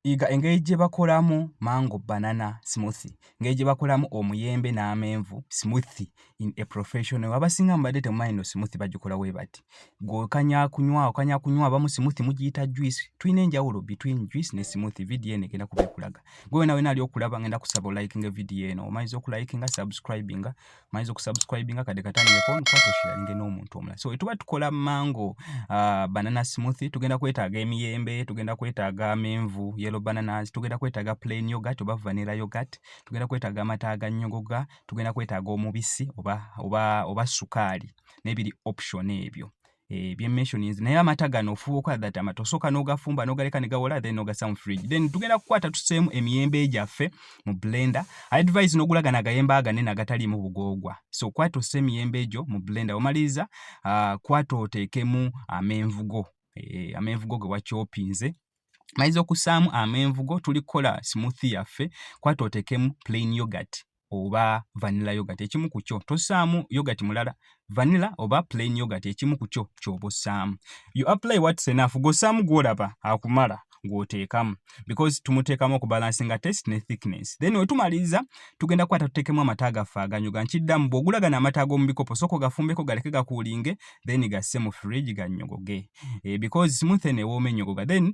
yiga engeri gye bakolamu mango banana smoothie, engeri gye bakolamu omuyembe n'amenvu smoothie in a professional way. Abasinga mubadde temumanyi nno smoothie bagikola bwe bati. Ggwe okanya kunywa, okanya kunywa, abamu smoothie mugiyita juice. Tulina enjawulo between juice ne smoothie. Vidiyo eno egenda kuba ekulaga. Ggwe wena wena ali okulaba ngenda kusaba olayikinge vidiyo eno. Omaliza okulayikinga, subscribinga. tumanyiza okusubscribinga kade katandikeko nkwata osharinge n'omuntu omulala so etuba tukola mango uh, banana smoothie tugenda kwetaaga emiyembe tugenda kwetaaga amenvu yellow bananas tugenda kwetaaga plain yogurt oba vanilla yogurt tugenda kwetaaga amata aganyogoga tugenda kwetaaga omubisi oba, oba, oba sukaali n'ebiri option ebyo eh, bye mentionings naye amata gano ofuba okola that amata osooka n'ogafumba n'ogaleka ne gawola then n'ogassa mu fridge then tugenda kukwata tuseemu emiyembe gyaffe mu blender I advise n'ogula gano agayembe aganene agataliimu bugoogwa so kwata ossa emiyembe egyo mu blender omaliriza uh, kwata oteekemu amenvu go eh, amenvu go ge wakyopinze maize okusaamu amenvugo tuli kukola smoothie yaffe kwata otekemu plain yogurt oba vanilla yogurt ekimu ku kyo tossaamu yogurt mulala vanilla oba plain yogurt ekimu ku kyo ky'oba ossaamu you apply what's enough gw'ossaamu gw'olaba akumala gw'oteekamu because tumuteekamu okubalansinga test ne thickness then wetumaliriza tugenda kukwata tuteekemu amata gaffe aganyoga nkiddamu bw'ogula gano amata ag'omu bikopo sooka ogafumbeko galeke gakuulinge then gasse mu fridge gannyogoge eh, because smooth eno ewooma ennyogoga then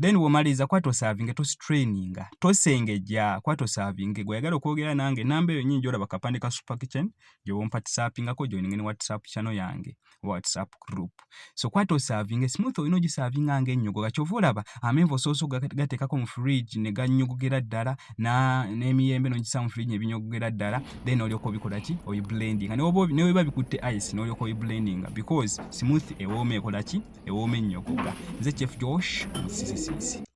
then womaliriza kuba tosavinge tostraininga tosengejja kuba tosavinge gweyagala okwogera nange namba eyo nyini gyolaba kapande ka super kitchen gyowompatisapingako joininge ne whatsapp channel yange oba whatsapp group so kuba tosavinge smooth olina ogisavinga nga ennyogoga kyova olaba amenvu osoosa okugateekako mu fridge ne gannyogogera ddala n'emiyembe n'ogisaamu fridge ne binyogogera ddala then olyoka obikola ki oyi blending nga newoba newoba bikutte ice n'olyoka oyi blending because smooth ewooma ekola ki ewooma ennyokobwa nze chef josh musisisisi